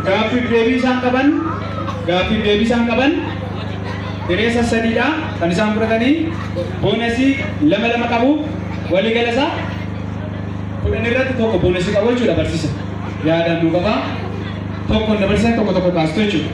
Gaaffiif deebii isaan qaban gaaffiif deebii isaan qaban hireessa sadiidha kan isaan fudhatanii boonasii lama lama qabu walii gala isaa kudhan irratti tokko boonasii qabu jechuudha barsiisa yaadaan nu qaba tokko na barsiisan tokko tokko kaastu jechuudha.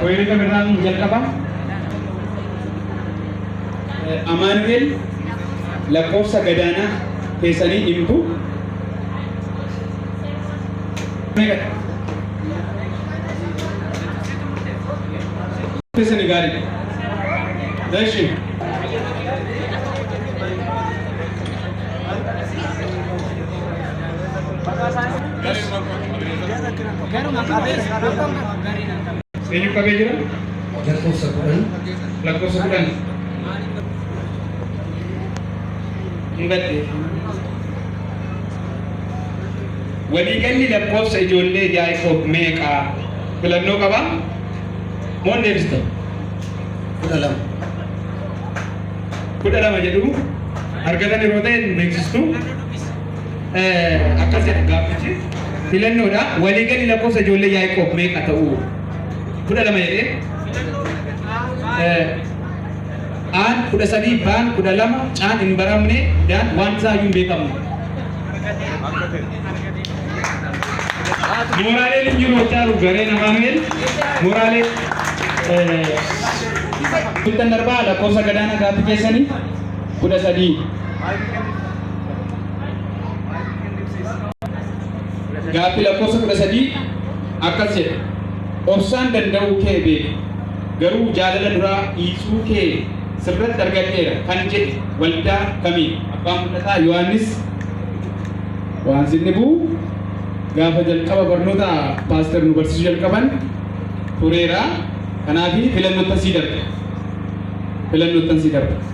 Koyirina birraa nu jalqaba. Amaanu'el lakkoofsa gadaanaa keessanii himtu. Keessanii gaariidha. Dashi. Eenyu qabee jira? Lakkoofsa kudhan. Lakkoofsa kudhan. Hin gaddee. Waliigalli lakkoofsa ijoollee Yaaqoob meeqa? Filannoo qabaa? Moo hin deebistan? Kudha lama. Kudha lama jedhu argatan yeroo ta'e hin beeksistu. Eh, akkas jedha gaaffichi filannoodha waliigalli lakkoofsa ijoollee Yaaqoob meeqa ta'u kudha lama jedhee Eh, aan kudha sadii baan kudha lama caan hin baramne daan waan isaa iyyuu hin beekamu mooraalee hin jiru hojjaa jiru gareen amaanu'el mooraalee eh, Bultan darbaa lakkoofsa gadaana gaaffii keessanii kudha sadii Gaaffii lakkoofsa kudha sadii akkas jedha. Obsaan danda'uu kee beeku garuu jaalala duraa dhiisuu kee sirratti argadheera kan jedhe waldaa kamiin? Abbaan mul'ataa Yohaannis waan sinni bu'u gaafa jalqaba barnoota paaster nu barsiisuu jalqaban tureera. Kanaaf filannottan sii darba. Filannottan sii darba.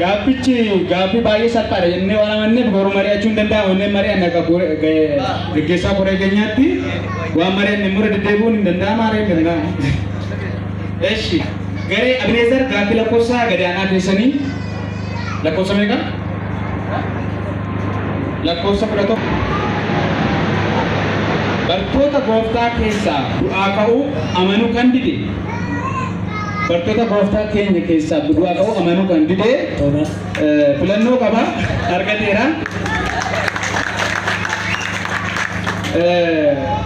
Gaaffichi gaaffii baay'ee salphaadha jennee waan amanneef garuu mari'achuu hin danda'amu jennee mari'anne akka gaggeessaa koree keenyaatti waan mari'anne immoo deddeebi'uun hin danda'amu haaree hin danda'amu. Eshi garee Abineezar gaaffii lakkoofsa gadi aanaa keessanii lakkoofsa meeqa? Lakkoofsa kudha tokko. Bartoota gooftaa keessaa du'aa ka'uu amanuu kan dide Bartoota gooftaa keenya keessaa du'aa ka'uu amanuu kan dide filannoo qaba argateera.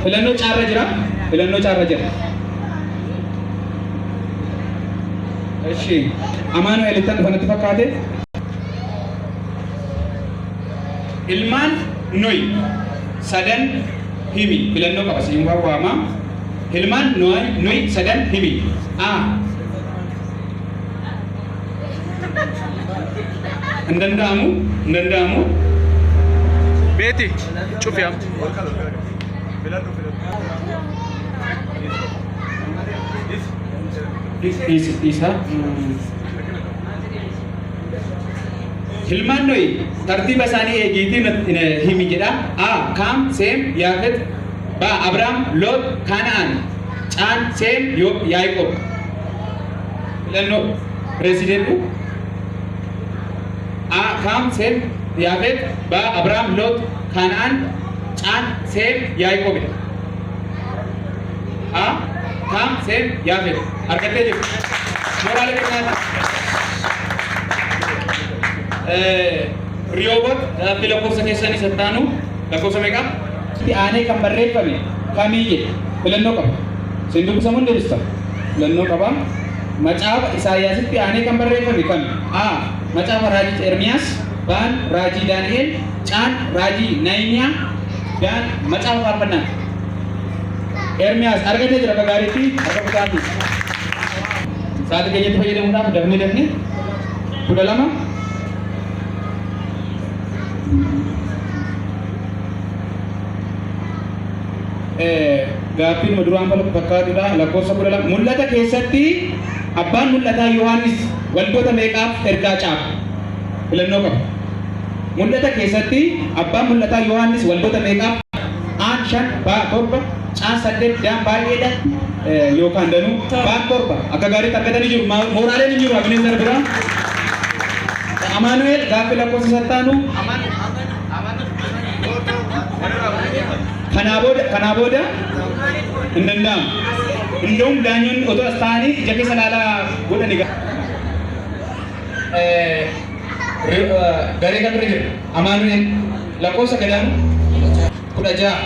Filannoo caarra jira. Filannoo caarra jira. Eshi Amaanu'eel ittan dhufanatti fakkaate. Ilmaan Noy sadan himi filannoo qaba siin waama. Hilmaan Noayi, Noi, sadan himi. a. Hin danda'amu, hin danda'amu. Beeti, cufi am. Dhiisa, dhiisa. Ilmaan Nohi tartiiba isaanii eegiitii natti- eh, himi jedha. A. Kaam, Seem, Yaafet. B. Abraam, Loot, Kaana'aan. C. Seem, Yoob, Yaaqoob. Filannoo pireezidentii. A. Kaam, Seem, Yaafet. B. Abraam, Loot, Kaana'aan. C. Seem, Yaaqoob. Ha, Kaam, Seem, Yaafet. Argattee jirtu. Mooraalee birmaata. Riyoobot gaaffii lakkoofsa keessan isa taanu lakkoofsa meeqa? Itti aanee kan barreeffame kamii jedhe filannoo qaba. Isin dubbisamu hin deebista. Filannoo qaba. Macaafa Isaayyaasitti aanee kan barreeffame kami? A. Macaafa Raajii Ermiyaas. B. Raajii Daani'el. C. Raajii Nahimiyaa. Daan macaafa faarfannaa Ermiyaas argatee jira akka gaariitti harka busaati. Sa'aatii keenyatti fayyadamuudhaaf dafnee dafnee kudha lama gaaffiin duraan falmu fakkaatudha lakkoofsa kudha lama mul'ata keessatti abbaan mul'ataa Yohaannis waldoota meeqaaf ergaa caafe filannoo qaba. Mul'ata keessatti abbaan mul'ataa Yohaannis waldoota meeqaaf? Aan, shan, Baa, torba, Caan, saddeet, Daan, baay'ee, dha, yookaan danuu, Baan, torba. Akka gaariitti argatanii jiru. Ma, mooraaleen hin jiru Abinezer biraa. Dha, Amaanu'eel gaaffii lakkoofsa isa itti aanu. Kanaa booda, kanaa booda hin danda'amu. Indaum daanyonni otoo as taa'anii ija keessa ilaalaa godhani. garee kan irra jirra amaanu'el lakkoofsa gadaan kudha ja'a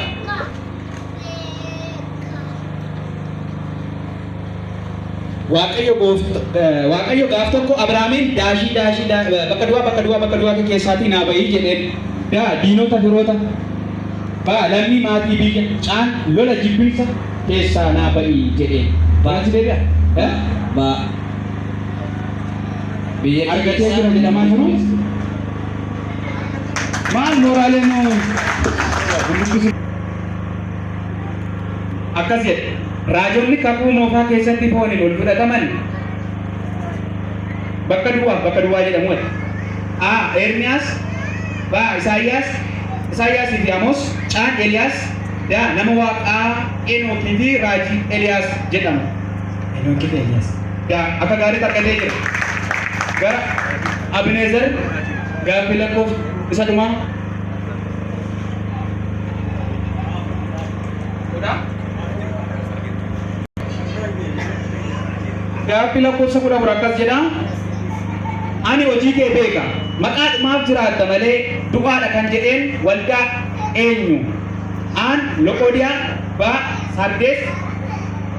waaqayyo waaqayyo gaaf tokko abrahaamiin daashii daashii bakka duwaa bakka duwaa bakka duwaa keessaatii naa bahii jedheen daa diinota firoota baa lammii maatii biyya caan lola jibbinsa keessaa naa bahii jedheen baati deebi'a baa Biyya argatee jira jedhamaa jiru. Maal mooraalee nu guddisu? Akkas jedhe. Raajonni kakuu moofaa keessatti fooniin ol fudhataman bakka duwwaaf bakka duwwaa jedhamu ati. A. Ermiyaas B. Isaayyaas Isaayyaasii fi Amoos C. Eliyaas D. Nama waaqaa Enookii fi raajii Eliyaas jedhamu. Enookii fi Eliyaas. Daa. Akka gaariitti argatee jira. Gara Abineezer gaaffii lakkoofsa isa dhumaa. Kudha. Gaaffii lakkoofsa kudha afur akkas jedha. Ani hojii kee beeka. Maqaadhumaaf jiraatta malee du'aadha kan jedheen waldaa eenyu? Aan, Loqoodiyaa, Baa, Sardees,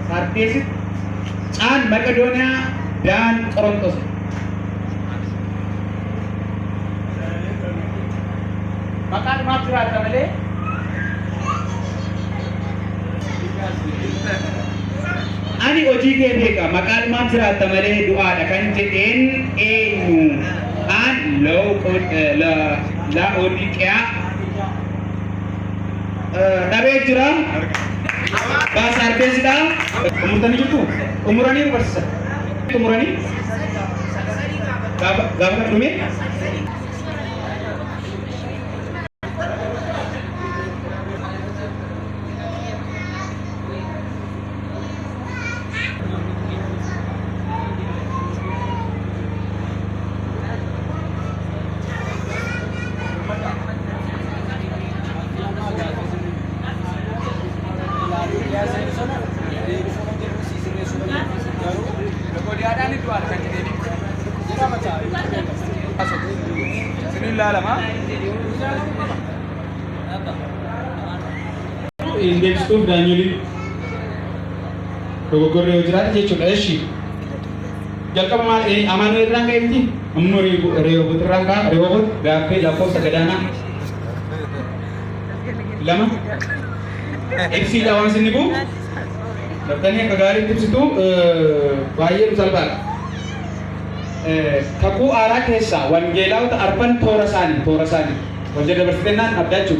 Sardeesitti. Caan Maqedooniyaa Daan Qorontos. Maqaadhumaaf jiraatta malee. Ani hojii kee beeka maqaadhumaaf jiraatta malee du'aadha kan jedheen eenyu? Aan Laa'odiiqiyaa dhabee jira. Baasa argeessidha. Xumurtanii jirtu? Xumuranii nu barsiisa. Xumuranii? Gaafa gaafa kana dhumee? Bismillah lama. Inni deebisuuf daanyoliin dogoggorri yoo jiraate jechuudha. Eshi jalqaba maal ee amaanuu irraan ka'e miti ammoo reewwatu irraan ka'a reewwatu gaaffii lakkoofsa gadaanaa lama ibsiidha waan sinni bu'u dabtanii akka gaariitti ibsitu baay'ee nu salphaadha. Kakuu aaraa keessaa wangeelaawota arfan toora isaanii toora isaanii hojii dabarsitennaan abdaachuu.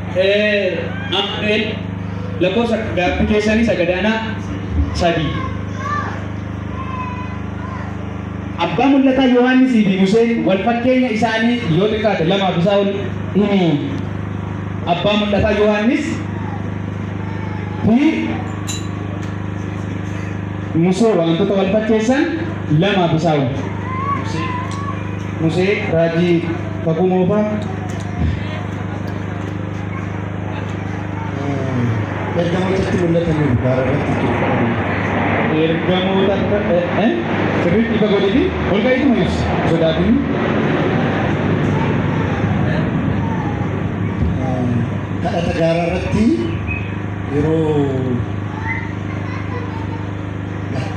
Ameen lakkoofsa gaaffi keessanii isa gadaanaa sadii. Abbaa mul'ataa Yohaannisii fi Museen wal fakkeenya isaanii yoo xiqqaate lamaaf isaa ol himi. Abbaa mul'ataa Yohaannis fi Musee wantoota wal fakkeessan lamaaf isaa ol. Musee raajii kakuu moofaa Ergamootatti mul'atanii gubbaarra irratti jechuudha. Ergamoota sirriitti ifa godhiti ol ka'iitu mul'isa sodaatiin. Kadhata gaaraa irratti yeroo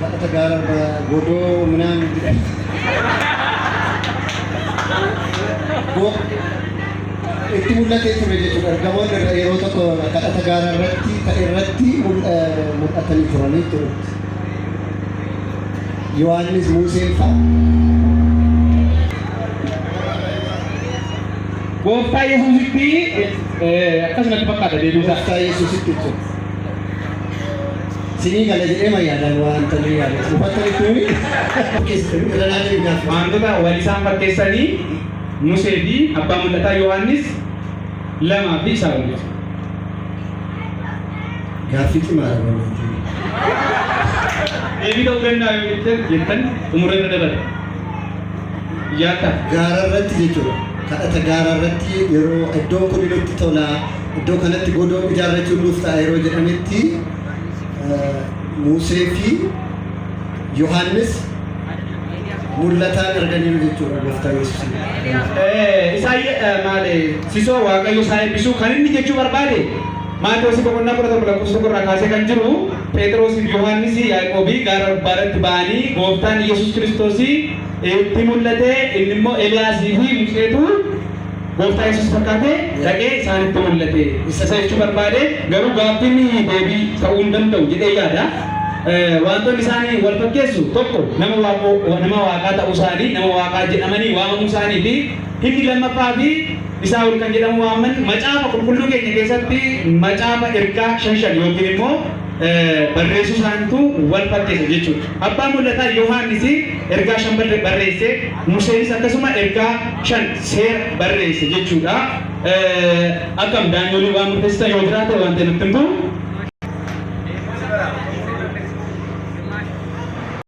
Kadhata gaara arba godoo minaan Go- itti mul'atee ture jechuudha. Ergamoonni irra- yeroo tokko kadhata gaara irratti ta'e irratti mul- eh, mul'atanii turanii ture. Yohaannis Museen fa'a. Gooftaa Yesuusitti eh, akkasumatti fakkaata deebiisaa. Gooftaa Yesuusitti jechuudha. Sinii gala jedhee ma yaadaan waan tanii yaadee hubatta jechuun irra naa jedhu gaaf. Waantota wal isaan fakkeessanii Musee fi abbaa mul'ataa Yohaannis lamaa fi isaa olitti. Gaaffii cimaa dha waan ta'eef. Deebii ta'uu danda'a yoo jettan jettan xumura irra dabala. Yaadda. Gaara irratti jechuudha. Kadhata gaara irratti yeroo iddoon kun nutti tola Iddoo kanatti godoo ijaarrachuun nuuf ta'a yeroo jedhametti Musee fi Yohaannis mul'ataan arganiiru jechuudha gooftaa Yesuusin. Isaa maali sisoo waaqayyo isaa eebbisuu kan inni jechuu barbaade Maatewos boqonnaa kudha tokko lakkoofsa tokko irraa kaasee kan jiru Pheexiroos fi Yohaannis Yaaqoobii gaara gubbaarratti ba'anii gooftaan Yesuus Kiristoos itti mul'ate inni immoo Eliyaasii fi Museetu Gooftaa Yesuus fakkaatee dhaqee isaanitti mul'ate. Isa isa jechuu barbaade garuu gaaffiin deebii ta'uu hin danda'u jedhee yaada. Waantonni isaanii wal fakkeessu tokko nama waaqoo nama waaqaa ta'uu isaanii nama waaqaa jedhamanii waamamuu isaanii fi inni lammaffaa fi isaa ol kan jedhamu waaman macaafa qulqulluu keenya keessatti macaafa ergaa shan shan yookiin immoo barreessuu isaaniitu wal fakkeessa jechuudha. Abbaan mul'ataa Yohaannis ergaa shan barreesse, Museenis akkasuma ergaa shan seera barreesse jechuudha. Akkam daanyoolii waan murteessitan yoo jiraate waan ta'e natti himtu.